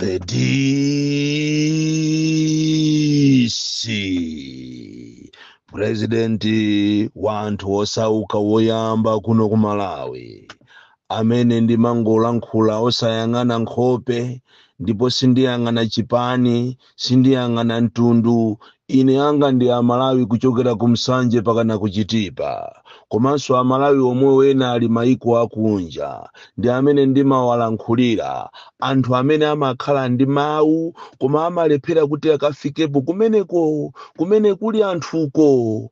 The DC purezidenti wanthu osauka woyamba kuno ku Malawi amene ndimangolankhula osayang'ana nkhope ndipo sindiyang'ana chipani sindiyang'ana mtundu ine anga ndi amalawi kuchokera ku nsanje pakana ku chitipa komanso amalawi omwewo ena ali maiko akunja ndi amene ndimawalankhulira anthu amene amakhala ndi mawu koma amalephera kuti akafikepo kumeneko kumene kuli anthuko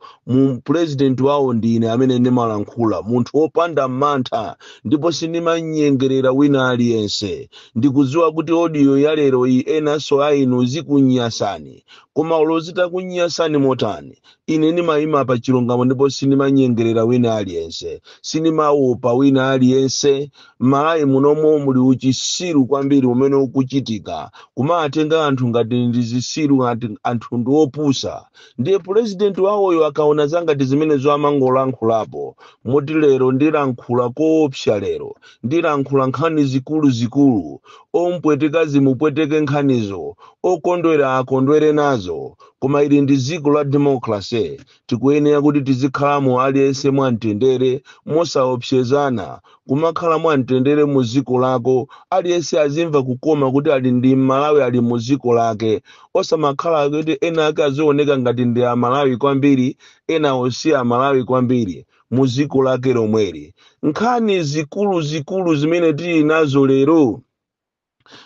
purezidenti wawo ndi ine amene ndimalankhula munthu wopanda mantha ndipo sindimanyengerera wina aliyense ndikudziwa kuti odiyo ya lero iyi enanso a inu zikunyasani koma olo zitakunyasani motani ine ndimayima pa chilungamo ndipo sindimanyengerera wina aliyense sindimawopa wina aliyense malawi munomo muli uchisiru kwambiri umene ukuchitika kumatenga anthu ngati ndi zisiru ngati anthu ndi opusa ndiye pulezidenti wawoyo akaona zangati zimenezo amangolankhulapo moti lero ndilankhula koopsa lero ndilankhula nkhani zikuluzikulu, ompweteka zimupweteke nkhanizo, okondwera akondwere nazo, koma ili ndi dziko la democracy, tikuyenera kuti tizikhalamo aliyense mwa mtendere, mosaopsezana, kumakhala mwa mtendere mu dziko lako, aliyense azimva kukoma kuti ali ndi Mmalawi ali mu dziko lake, osamakhala kuti ena ake azioneka ngati ndi Amalawi kwambiri, enawo si Amalawi kwambiri. mu dziko lake lomweli nkhani zikuluzikulu zimene tili nazo lero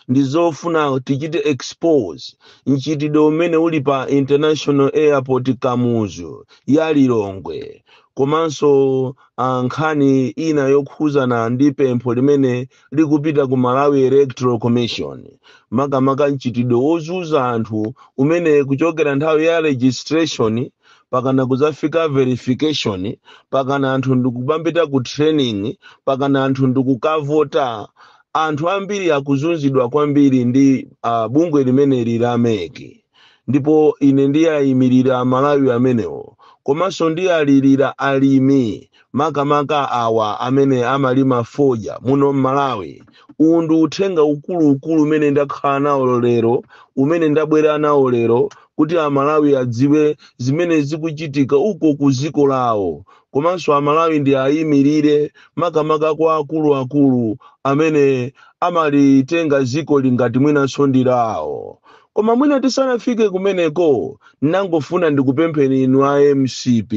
ndi zofuna tichite expose mchitidwe umene uli pa international airport kamuzu ya lilongwe komanso ah, nkhani ina yokhuzana ndi pempho limene likupita ku malawi electoral commission makamaka mchitidwe wozunza anthu umene kuchokera nthawi ya registration pakana kuzafika verification pakana anthu ndikumapita ku training pakana anthu ndikukavota anthu ambiri akuzunzidwa kwambiri ndi uh, bungwe limeneli la MEC ndipo ine ndiayimirira amalawi amenewo komanso ndialirira alimi makamaka awa amene amalima fodya muno m'malawi uwu ndi uthenga ukuluukulu umene ndakhala nawo lero umene ndabwera nawo lero kuti amalawi adziwe zimene zikuchitika uko ku dziko lawo komanso amalawi ndiayimirire makamaka kwa akuluakulu amene amalitenga dzikoli ngati mwinanso ndi lawo koma mwina tisanafike kumeneko ndangofuna ndikupempheni inu a mcp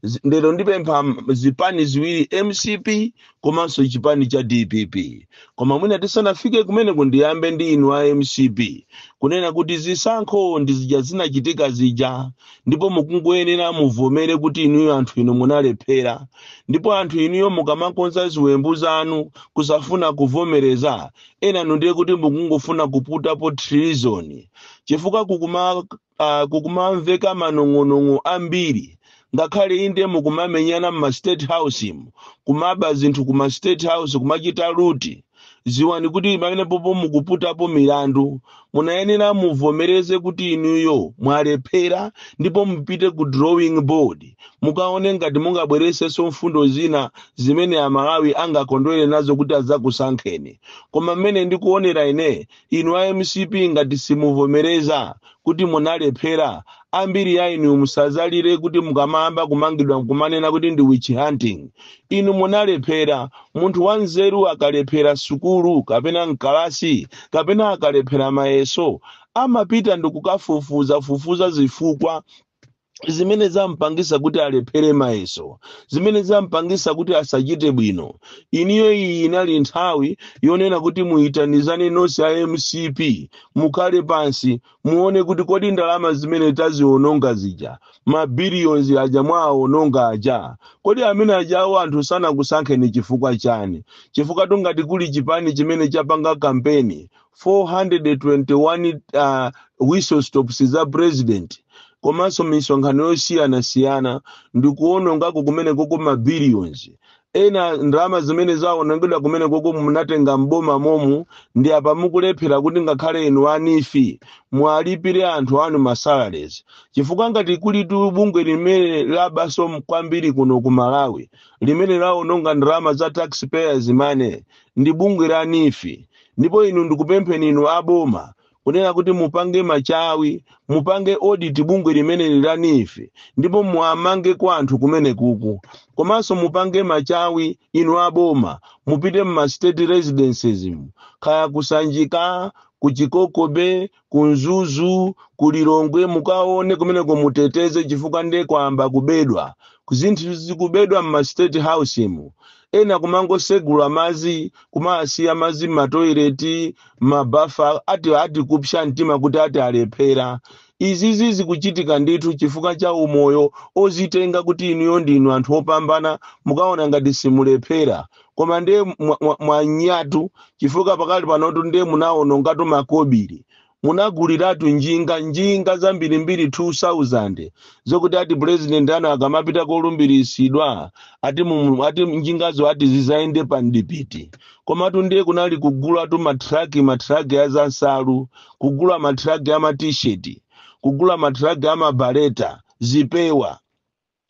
Zi- lero ndipempha zipani ziwiri mcp komanso chipani cha dpp koma mwina tisanafike kumeneko ndiyambe ndi inu a mcp kunena kuti zisankho ndi zija zinachitika zija ndipo mukungoyenera muvomere kuti inuyo anthu inu munalephera ndipo anthu inuyo mukamakonza ziwembu zanu kusafuna kuvomereza enanu ndiye kuti mukungofuna kuputapo treason chifukwa kukuma uh, kukumamveka manong'onong'o ambiri ngakhale inde mukumamenyana mma state house kumaba zinthu kuma state house kumachita loot dziwani kuti pamenepopo mukuputapo milandu munayenera muvomereze kuti inuyo mwalephera ndipo mupite ku drawing board mukaone ngati mungabweresenso mfundo zina zimene amalawi angakondwere nazo kuti adzakusankheni koma mmene ndikuonera ine Inu a mcp ngati simuvomereza kuti munalephera, ambiri a inu musazalire kuti mukamayamba kumangidwa kumanena kuti ndi witch hunting. Inu munalephera. Munthu wanzeru akalephera sukulu kapena m'kalasi kapena akalephera mayeso, amapita ndikukafufuzafufuza zifukwa zimene zampangisa kuti alephere mayeso zimene zampangisa kuti asachite bwino iniyo iyi inali nthawi yonena kuti muyitanizane nonse a mcp mukhale pansi muone kuti kodi ndalama zimene taziononga zija mabiliyonzi aja mwaawononga aja kodi amene adyawo anthu sanakusankheni chifukwa chani chifukwa tu ngati kuli chipani chimene chapanga kampeni 421 uh, whistle stops za president komanso misonkhano yosiyanasiyana ndi kuonongako kumenekoko ma billions ena ndalama zimene zaonongedwa kumenekoko munatenga mboma momu ndi apa mukulephera kuti ngakhale inu a NEEF mwalipire anthu anu masalaries chifukwa ngati kulitu bungwe limene labaso kwambiri kuno ku malawi limene laononga ndalama za taxpayers money ndi bungwe la NEEF ndipo inu ndikupempheni inu a boma kunena kuti mupange machawi mupange audit bungwe limeneli la NEEF ndipo muamange kwa anthu kumenekuku komanso mupange machawi inu a boma mupite mma state residences mu kaya ku sanjika ku chikoko bay ku mzuzu ku lilongwe mukaone kumeneko muteteze chifukwa nde kwayamba kubedwa zinthu zikubedwa mma state house mu ena kumangosegula mazi kumasiya mazi mmatoileti mmabafa ati ati kupsa mtima kuti ati alephera izizi zikuchitika ndithu chifukwa cha umoyo ozitenga kuti inuyo ndinu anthu opambana mukaona ngati simulephera koma ndiye mwa- mwa- mwanyatu chifukwa pakali panotu ndiye munawonongatu makobiri munaguliratu njinga njinga zambirimbiri 2000 zokuti ati purezidenti anu akamapita kolumbiritsidwa ati, mumu- ati njingazo ati zizayende pa mdipiti komatu ndiye kunali kugulatu matraki matraki a zansalu kugula matraki a matisheti kugula matraki a mabaleta zipewa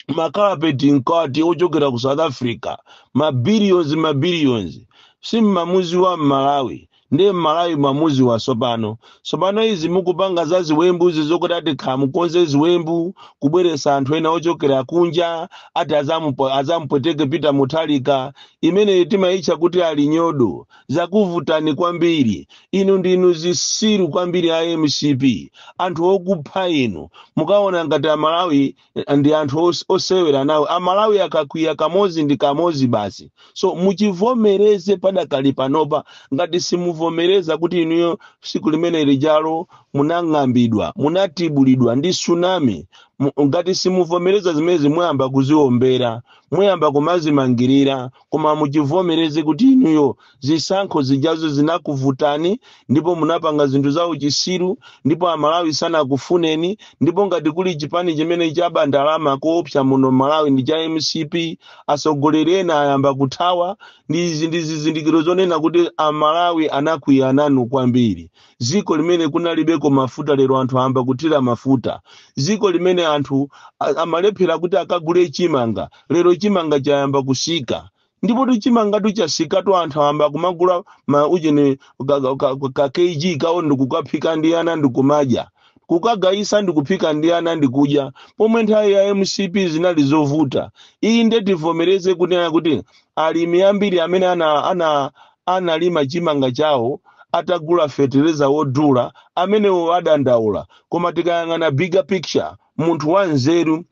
makapeti mkati ochokera ku south africa mabilions mabilions simmamudziwa mmalawi ndiye mmalawi mwamudziwa sopano sopano izi mukupanga za ziwembu izi zokuti ati kaya mukonze ziwembu kubweresa anthu ena ochokera kunja ati azamupo- azamupweteke peter muthalika imeneyi timayitcha kuti ali nyodo zakuvutani kwambiri inu ndinu zisiru kwambiri a mcp anthu okupha inu mukaona ngati amalawi eh, ndi anthu os- osewera nawo amalawi akakwiya kamodzi ndi kamodzi basi so muchivomereze padakali panopa ngati simuvomereza kuti inuyo siku limene lijalo munang'ambidwa munatibulidwa ndi tsunami Mu- ngati simuvomereza zimenezi muyamba kuziombera muyamba kumazimangirira koma muchivomereze kuti inuyo zisankho zijazo zinakuvutani ndipo munapanga zinthu za uchisiru ndipo amalawi sanakufuneni ndipo ngati kuli chipani chimene chaba ndalama koopsa muno malawi ndi cha mcp atsogoleri ena ayamba kuthawa ndi izi ndi zizindikiro zonena kuti amalawi anakwiya nanu kwambiri dziko limene kunalibeko mafuta lero anthu ayamba kuthira mafuta dziko limene anthu a- amalephera kuti akagule chimanga lero chimanga chayamba kusika ndipotu chimangatu chasikatu anthu ayamba kumagula ma ujeni ka, ka, ka, ka kg kawo ndikukaphika ndi ana ndikumadya kukagayisa ndikuphika ndi ana ndikudya pomwe nthawi ya mcp zinali zovuta iyi nde tivomereze kunena kuti alimi ambiri amene ana, ana analima chimanga chawo atagula fetereza wodula, amenewo adandaula koma tikayang'ana bigger picture munthu wanzeru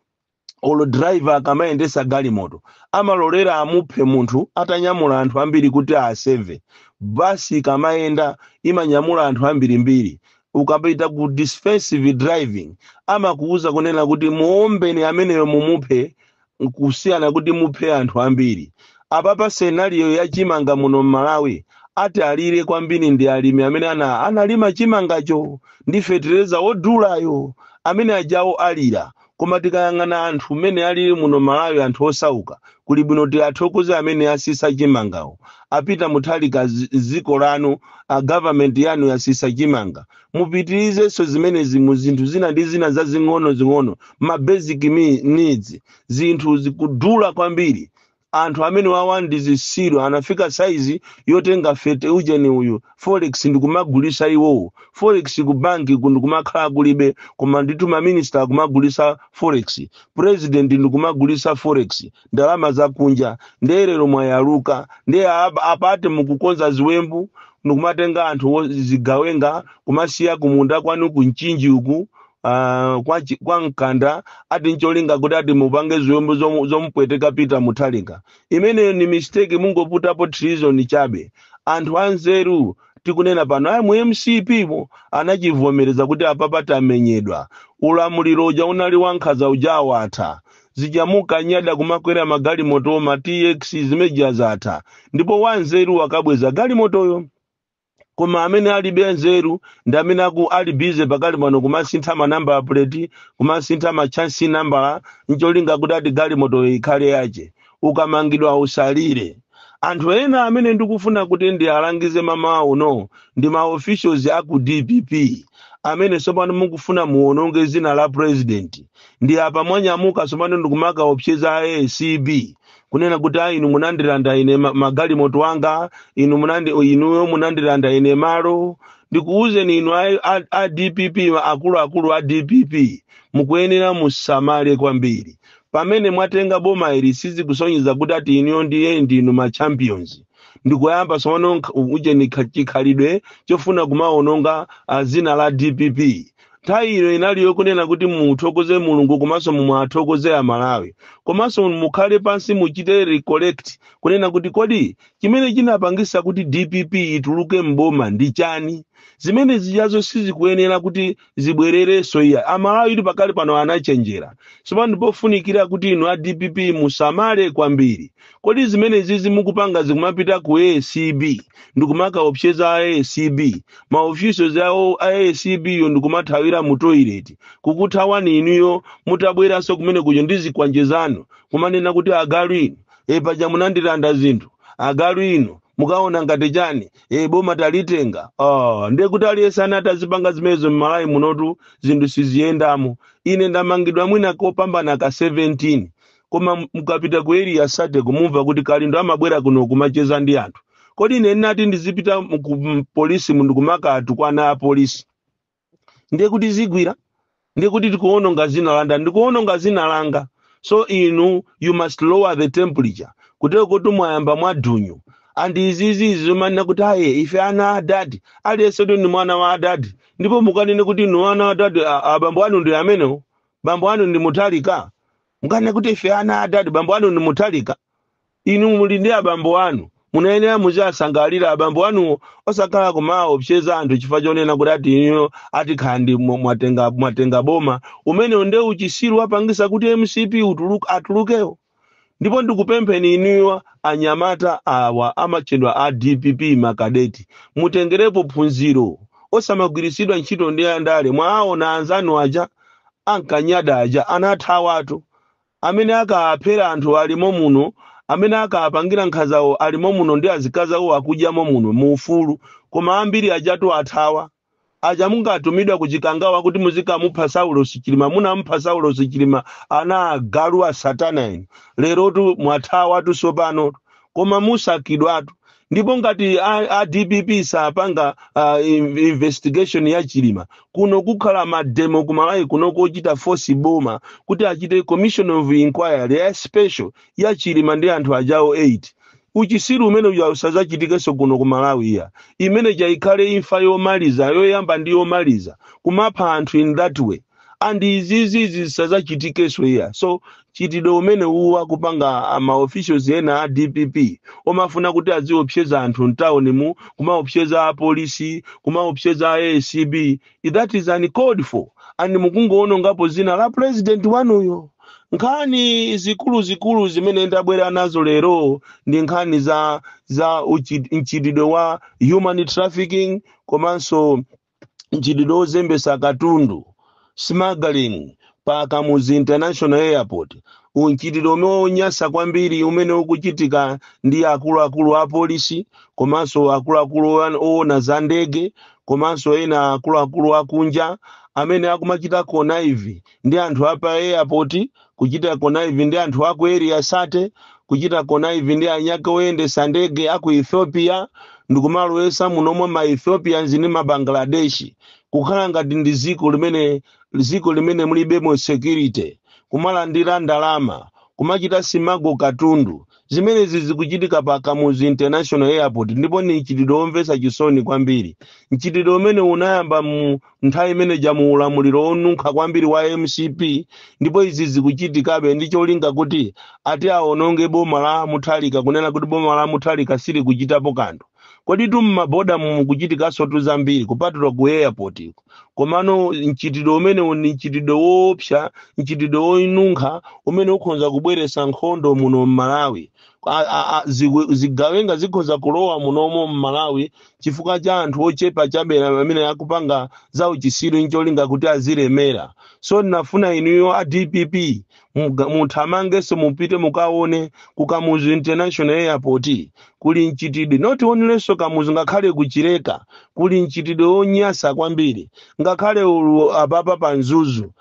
olo driver akamayendesa galimoto amalolera amuphe munthu atanyamula anthu ambiri kuti aseve. Bus ikamayenda imanyamula anthu ambirimbiri ukapita ku defensive driving amakuuza kunena kuti muombeni ameneyo mumuphe kusiyana kuti muphe anthu ambiri apapa scenario ya chimanga muno mmalawi ati alire kwambiri ndi alimi amene ana analima chimangacho ndi fetereza wodulayo amene ajawo alira koma tikayang'ana anthu mmene alili muno malawi anthu osauka kuli bwino ti athokoze amene asisa chimangawo a Peter muthalika zi- ziko lanu a government yanu yasisa chimanga mupitirizenso zimenezi mu zinthu zina ndi zina zazing'onozing'ono ma basic mi- needs zinthu zikudula kwambiri anthu amene wawa ndi zisiru anafika saizi yotenga fete ujeni uyu forex ndikumagulisa iwowo forex ku banki ku ndikumakhala kulibe koma ndi tuma minister kumagulisa forex president ndikumagulisa forex ndalama zakunja ndiye lero mwayaluka ndiye apa- apate mukukonza ziwembu ndikumatenga anthu wo- zigawenga kumasiya kumunda kwanu ku mchinji uku ah, kwa, chi- kwa mkanda ati ncholinga kuti ati mupange ziwembu zomu- zomupweteka peter mutharika imeneyo ni mistake mungoputapo treason chabe anthu anzeru tikunena pano ayi mu mcp mo anachivomereza kuti apapa tamenyedwa ulamuliro uja unali wankhaza uja watha zija mukanyada kumakwera magalimoto ma tx zimeja zatha ndipo wanzeru wakabweza galimotoyo koma amene alibe nzeru ndi amene aku ali bize pakali pano kumasintha manambala plate kumasintha machassis nambala ncholinga kuti ati galimotoyo ikhale yache ukamangidwa usalire anthu ena amene ndikufuna kuti ndiwalangize mamawa uno ndi ma officials a ku dpp amene tsopano mukufuna muwononge dzina la president ndi apa mwanyamuka tsopano ndikumakaopseza acb kunena kuti a inu munandilanda ine ma- magalimoto anga inu munandi inuyo munandilanda ine malo ndikuwuzeni inu a, a, a dpp ma- akuluakulu a dpp mukuyenera musamale kwambiri pamene mwatenga boma ili sizikusonyeza kuti ati inuyo ndiye ndinu ma champions ndikuyamba tsopano nkha- ujeni kha- chikhalidwe chofuna kumaononga ah, dzina la dpp nthawi ino inali yokunena kuti muthokoze mulungu komanso mu- muwathokoze amalawi komanso mukhale pansi muchite recollect kunena kuti kodi chimene chinapangisa kuti dpp ituluke mboma ndi chani zimene zijazo sizikuyenera kuti zibwererenso iya amalawi ili pakali pano anachenjera sopano ndipofunikira kuti inu a dpp musamale kwambiri kodi zimene zizi mukupanga zikumapita ku acb ndikumakaopseza a acb ma officials awo a acb yo ndikumathawira mu toilet kukuthawani inuyo mutabweranso kumene kuja ndi zikwanje zanu kumanena kuti agalu inu e paja munandilanda zinthu agalu inu mukaona ngati chani e boma talitenga oh, ndiye kuti aliyense ana atazipanga zimenezo mmalawi munotu zinthu siziyendamo ine ndamangidwa mwina kopambana ka 17 koma m- mukapita ku area 30 kumumva kuti kalindo amabwera kuno kumacheza ndi anthu kodi ine ndinati ndizipita mu- ku m- polisi mu- ndikumakatukwana a polisi ndiye kuti sizigwira ndiye kuti tikuononga zina langa ndikuononga zina langa so inu you must lower the temperature kutero kuti mwayamba mwadunyu and izizi zomanena kuti aye ife ana a adadi aliyense ndi mwana wa adadi ndipo mukanene kuti inu ana a adadi a- abambo anu ndi amenewo bambo anu ndi mutharika mukanene kuti ife ana adadi bambo anu ndi mutharika inu muli ndi abambo anu munayenera muziwasangalira abambo anuwo osakhala kumaopseza anthu chifukwa chonena kuti ati inuyo atikhala ndi mwa- mwatenga mwatenga boma umenewo ndi uchisiru wapangisa kuti mcp utuluke atulukewo ndipo ndikupempheni inuyo anyamata awa amatchedwa a dpp makadeti mutengerepo phunziro osamagwiritsidwa ntchito ndi andale mwaona anzanu aja ankanyada aja anathawatu amene akaaphera anthu ali momuno amene akaapangira nkhazawo ali momuno ndi azikazi awo akudya momuno mu ufulu koma ambiri ajatu athawa aja munkatumidwa ku chikangawa kuti muzikamupha saulos chilima munamupha saulos chilima ana agalu a satana inu lerotu mwathawatu tsopano koma musakidwatu ndipo ngati a, a dpp sapanga uh, in- investigation ya chilima kuno kukhala mademo ku malawi kuno kochita force boma kuti achite commission of inquiry ya special ya chilima ndi anthu ajawo 8 uchisiru umene uja usazachitikenso kuno ku malawi iya imene ija ikhale imfa yomaliza yoyamba ndi yomaliza kumapha anthu in that way and izizi zisazachitikenso iya so mchitidwe umene uwu akupanga maofficials ena a dpp omafuna kuti aziopseza anthu mtawunimu kumaopseza apolisi kumaopseza a acb that is uncalled for and mukungoonongapo zina la president wanuyo nkhani zikuluzikulu zimene ndabwera nazo lero ndi nkhani za za uchi- mchitidwe wa human trafficking komanso mchitidwe wozembesa katundu smuggling pa kamuzu international airport ndi mchitidwe umenewu wonyasa kwambiri umene ukuchitika ndi akuluakulu a polisi komanso akuluakulu oyan- owona za ndege komanso ena akuluakulu akunja amene akumachita connive ndi anthu apa airport kuchita connive ndi anthu a ku Area 30, kuchita connive ndi eniake oyendetsa ndege a ku Ethiopia ndikumalowetsa munomo ma Ethiopians ndi ma Bangladesh, kukhala ngati ndi dziko limene dziko limene mulibemo security, kumalandira ndalama, kumachita smuggle katundu, Zimenezi zikuchitika pa Kamuzu International Airport ndipo ni mchitidwe womvetsa chisoni kwambiri. Mchitidwe umenewu unayamba mu nthawi imene ija mu ulamuliro wonunkha kwambiri wa MCP ndipo izi zikuchitikabe ndi cholinga kuti ati awononge boma la Mutharika kunena kuti boma la Mutharika silikuchitapo kanthu. Koditu m'maboda mukuchitikansotu zambiri kupatula ku airport. komano mchitidwe umenewu ndi mchitidwe woopsa mchitidwe wonunkha umene ukhoza kubweretsa nkhondo muno m'malawi A- a- a- ziwe- zigawenga zikhoza kulowa munomo m'malawi chifukwa cha anthu ochepa chabe amene akupanga za uchisiru ncholinga kuti azilemera so ndinafuna inuyo a dpp Muga- muthamangenso mupite mukaone ku kamuzu international airport kuli mchitidwe not onlynso kamuzu ngakhale kuchileka kuli mchitidwe wonyasa kwambiri ngakhale olo apapa pa mzuzu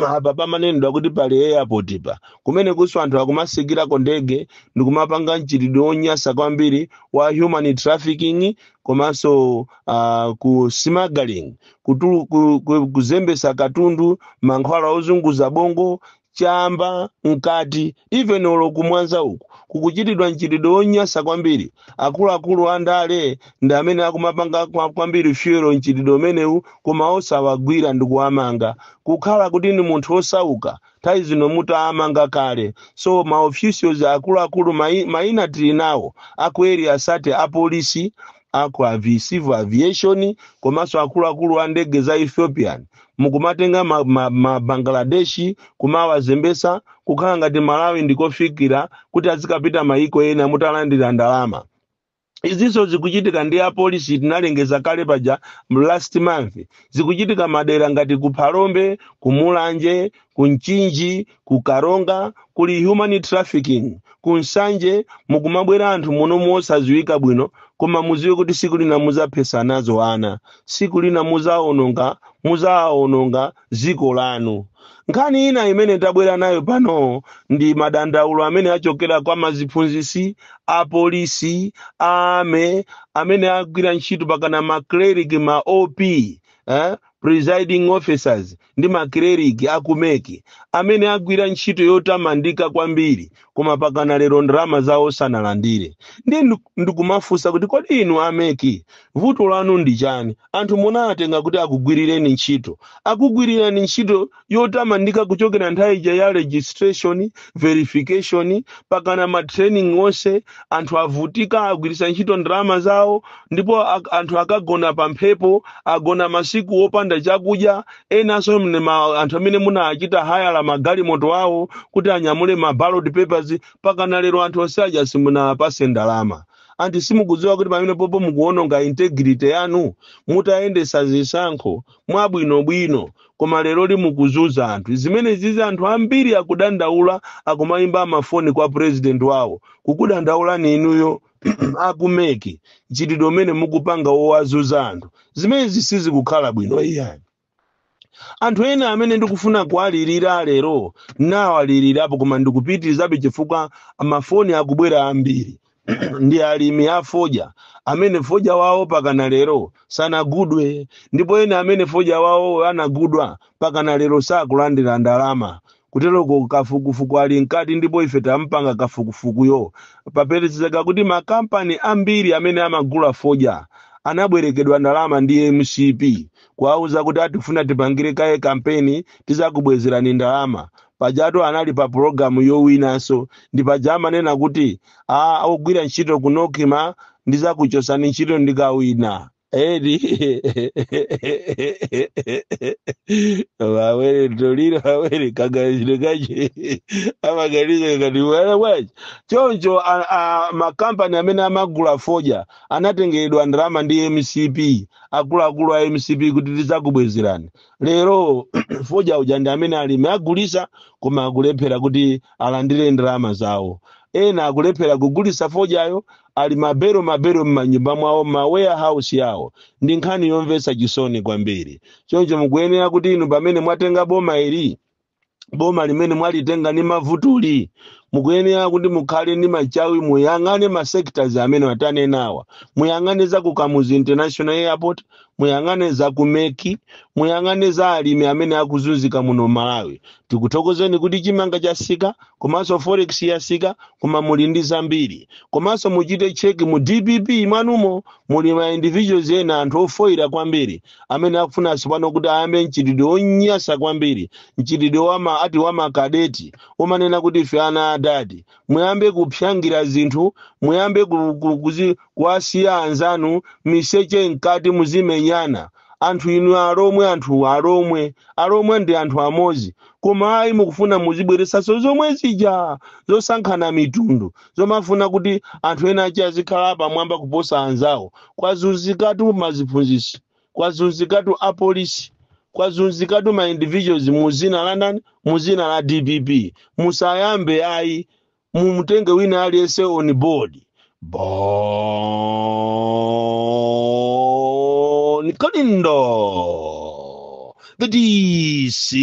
apa pamanenedwa kuti pali airport pa kumene kunso anthu akumatsikirako ndege ndikumapanga mchitidwe wonyasa kwambiri wa human trafficking komanso uh, ku smuggling kutulu- ku- ku- kuzembesa katundu mankhwala ozunguza bongo chamba mkati even olo kumwanza uku kukuchitidwa mchitidwe wonyasa kwambiri akuluakulu a ndale ndi amene akumapanga kwa- kwambiri fuel mchitidwe umenewu koma osawagwira ndi kuwamanga kukhala kuti ndi munthu wosauka nthawi zino mutawamanga kale so maofficials akuluakulu mai- maina tili nawo aku area 30 apolisi aku avi, civil aviation komanso akuluakulu a ndege za ethiopian mukumatenga ma, ma, ma bangladeshi kumawazembesa kukhala ngati malawi ndikofikira kuti azikapita mayiko ena mutalandira ndalama izinso zikuchitika ndi apolisi tinalengeza kale paja mu last month zikuchitika madera ngati ku phalombe ku mulanje ku mchinji ku karonga kuli human trafficking ku nsanje mukumabwera anthu muno mosadziwika bwino koma muziwe kuti siku lina muzaphesa nazo ana siku lina muzaononga muzaononga dziko lanu nkhani ina imene tabwera nayo pano ndi madandaulo amene achokera kwa maziphunzisi apolisi ame amene agwira ntchito pakana ma clerk ma op eh? presiding officers ndi ma clerk a ku mec amene agwira ntchito yotamandika kwambiri koma pakana lero ndalama zawo sanalandire ndiye ndu- ndikumafunsa kuti kodi inu a mec vuto lanu ndi chani anthu munawatenga kuti akugwirireni ntchito akugwirirani ntchito yotamandika kuchokera nthawi ija ya registration verification pakana matraining onse anthu avutika agwiritsa ntchito ndalama zawo ndipo ak- anthu akagona pa mphepo agona masiku opanda chakudya enanso mne- ma- anthu amene munachita hayala magalimoto awo kuti anyamule ma ballot papers pakana lero anthu onse aja simunapase ndalama kodi simukudziwa kuti pamenepopo mukuononga integrity yanu mutayendesa zisankho mwabwinobwino koma lero ndiye mukuzunza anthu zimenezizi anthu ambiri akudandaula akumayimba mafoni kwa president wawo kukudandaulani inuyo a ku MEC mchitidwe umene mukupanga wowazunza anthu zimenezi sizikukhala bwino iyayi anthu ena amene ndikufuna kuwalirira lero nawalirirapo koma ndikupitirizabe chifukwa mafoni akubwera ambiri ndi alimi a fodya amene fodya wawo pakana lero sanagulidwe ndipo ena amene fodya wawo anagulidwa pakana lero sakulandira ndalama Kuteroko kafukufuku ali mkati ndipo ife taupanga kafukufukuyo. Papezeka kuti ma kampani ambiri amene amagula fodya anabwerekedwa ndalama ndi mcp kuwauza kuti tikufuna tipangire kaye kampeni tizakubwezerani ndalama. Pajatu anali pa pulogalamu yowinanso ndi paja amanena kuti ogwira ntchito ku Nocma ndizakuchosani ntchito ndikawina. Edi wawere toliro wawere kaganizidwe kache amaganiza ngati wala bwachi choncho a- a- makampani amene amagula foja anatengeredwa ndalama ndi mcp akuluakulu a mcp kuti tidzakubwezerani lero foja uja ndi amene alimi agulisa koma akulephera kuti alandire ndalama zawo ena akulephera kugulisa fojayo ali mabelo mabelo m'manyumba mwawo m'ma warehouse yawo ndi nkhani yomvetsa chisoni kwambiri choncho mukuyenera kuti inu pamene mwatenga boma ili boma limene mwalitenga ndi mavutuli mukuyenera kuti mukhale ndi machawi muyang'ane ma sectors amene tanenawa muyang'ane za ku kamuzu international airport muyang'ane za ku MEC muyang'ane za alimi amene akuzunzika muno malawi tikuthokozeni kuti chimanga chasika komanso forex yasika koma muli ndi zambiri komanso muchite cheki mu dpp mwanumo muli ma individuals ena anthu ofoyira kwambiri amene akufuna tsopano kuti ayambe mchitidwe wonyasa kwambiri mchitidwe wama ati wamakadeti womanena kuti ife ana adadi muyambe kuphangira zinthu muyambe ku- ku- kuzi- kuwasiya anzanu miseche mkati muzimenyana anthu inu alomwe anthu alomwe alomwe ndi anthu amodzi koma ayi mukufuna muzibweresanso zomwe zija zosankhana mitundu zomafuna kuti anthu ena achi azikhala pamwamba kuposa anzawo kwazuzikatu maziphunzitsi kwazunzikatu apolisi kwazunzikatu ma individuals mu zina la ndani mu zina la dpp musayambe ayi mumutenge wina aliyense on board bon kalindo the dc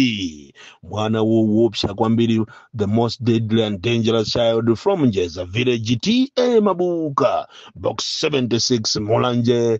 mwana wowopsa kwambiri the most deadly and dangerous child from njeza village ta mabuka box 76 mulanje